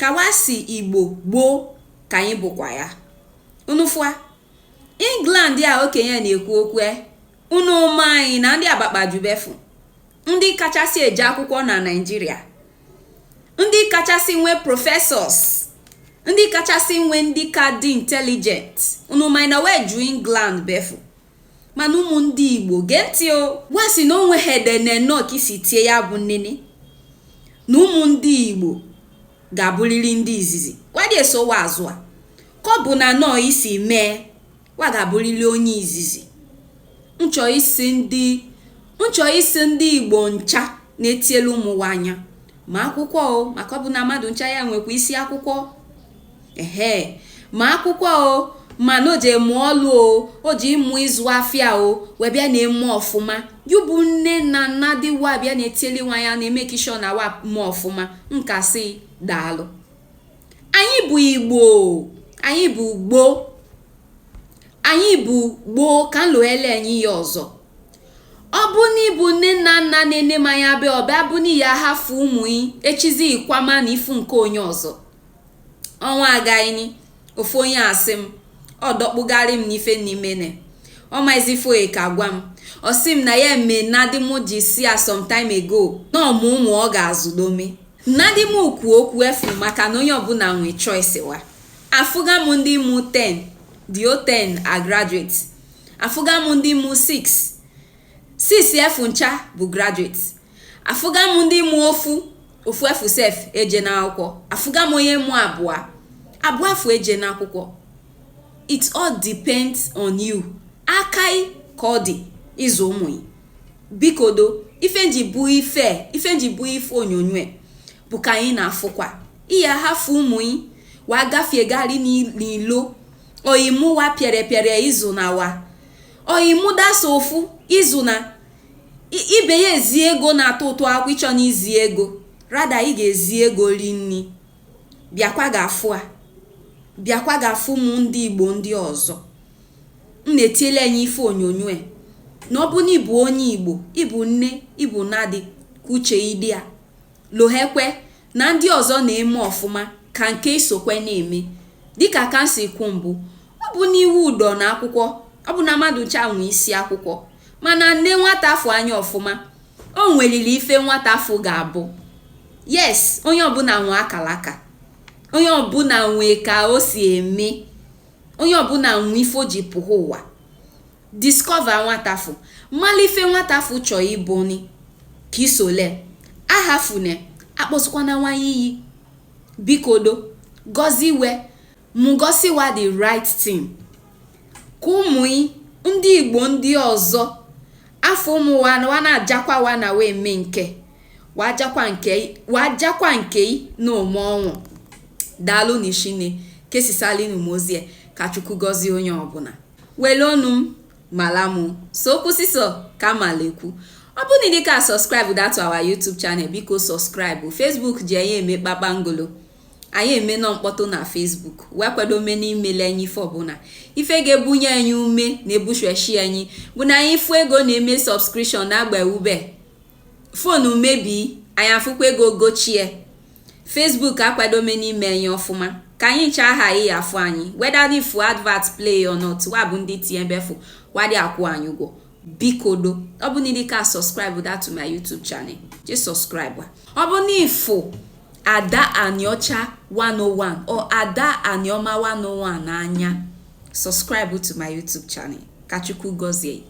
ka wa sị igbo gboo ka anyị bụkwa ya unu fụa england a okenye na-ekwu okwu e, unu ma na ndị a bakpaju ebe afụ ndị kachasị eje akwụkwọ na nigeria ndị kachasị nwee professors ndị kachasị nwee ndị ka dị intelligent unu ma na wa eju england ebe afụ mana ụmụ ndị igbo gee ntị o wa sị na onwe ha ede na nnọọ ka isi tie ya bụ nnene na ụmụ ndị igbo ga-abụrịrị ndị izizi wa adị esowa azụ a ka ọ bụ na nnọọ isi mee wa ga-abụrịrị onye izizi m chọ ịsị ndị m chọ ịsị ndị igbo ncha na-etielu ụmụ wa anya ma akwụkwọ o maka ọ bụ na mmadụ ncha ya-enwekwa isi akwụkwọ ehe ma akwụkwọ o ma na o je ịmụ ọlụ o o je ịmụ ịzụ afịa o wa bịa na-eme ọfụma yu bụ nne na nnadị wa bịa na-etieli wa anya na-emake sure na wa me ọfụma m ka-asị daalụ anyị bụ igbo anyị bụ gboo anyị bụ gboo ka m lohele anyị ya ọzọ ọ bụ na ịbụ nne na nna na-ene m anya bịa ọ bịa bụ na ị ya-ahafụ ụmụ yị echizi ị kwama na ị fụ nke onye ọzọ ọnwa agaghịni ofu onye asị m ọ dọkpụgharị m n'ife n'imene ọ maizi ife ya ka-agwa m ọ sị m na ya me nnadị m ji sị ya some time ago na ọ mụ ụmụ ọ ga-azụdome nnadị m ekwu okwu efu maka na onye ọbụla nwee choice wa afụga m ndị mụ 10 the whole 10 are graduate afụga m ndị mụ 6 6 afụ ncha bụ graduate afụga m ndị mụ ofu ofu afụ sef eje n'akwụkwọ afụga m onye mụ abụọ abụọ afụ eje n'akwụkwọ it all depends on you aka yị ka ọ dị ịzụ ụmụ yị bikodo ife m ji bụ ife ife m ji bụ ife onyonyo bụ ka anyị na-afụkwa ị ya-ahafụ ụmụ yị wa gafie gari n'ilo oyimu wa pịarịpịarị izu na wa oyimu dasa ofu izu na ibe ya ezi ego na-atọ ụtọ akwụ ịchọ na izi ego rather ị ga-ezi ego ri nni bịakwa ga-afụ a bịakwa ga-afụ ụmụ ndị igbo ndị ọzọ m na-etiele anyị ife onyonyo e. na ọ bụ na ịbụ onye igbo ịbụ nne ịbụ nnadị ka uche yị dị ya lohekwe na ndị ọzọ na-eme ọfụma ka nke yị sokwe na-eme dịka ka m si kwu mbụ ọ bụ na iwu dọ na akwụkwọ ọ bụ na mmadụ ncha nwe isi akwụkwọ mana nee nwata afụ anya ọfụma o nwelili ife nwata afụ ga-abụ yes onye ọbụla nwe akalaka onye ọbụla nwe ka o si eme onye ọbụla nwe ife o ji pụha ụwa Discover nwata afụ. Mala ife nwata afụ chọ ịbụ ni ka isole. Ahafune, akpọsụkwana nwa iyi. Bikodo, gọziwe, mụ gosi wa the right thing. Ka ụmụ ndị Igbo ndị ọzọ afụ ụmụ wa wa na-ajakwa wa na wa eme nke wa ajakwa nke i na ome ọnwụ. Daalụ nị shinne. Kesisalinu m ozi a. Ka Chukwu gọzie onye ọbụla. wele ọnụ m mala mụ so okwu sisọ ka mala ekwu ọ bụ na ị dịka subscribe that to our YouTube channel biko subscribe Facebook ji anyị eme kpakpangolo anyị eme nọ mkpọtụ na Facebook wa akwado ome n'imele anyị ife ọbụla ife ga-ebunye anyị ume na-ebushweshi anyị bụ na anyị fụ ego na-eme subscription na-agba ube phone mebie anyị afụkwa ego gochie Facebook akwado me n'ime anyị ọfụma ka anyị ncha aha ị afụ anyị whether ị fụ advert play or not wa bụ ndị tinye be afụ wa adị akwụ anyị ụgwọ bikodo ọ bụ na ị dịka subscribe that to my YouTube channel jee subscribe ọ bụ n'ị fụ Ada Aniocha 101 or Ada Anioma 101 n'anya subscribe to my YouTube channel ka Chukwu gọzie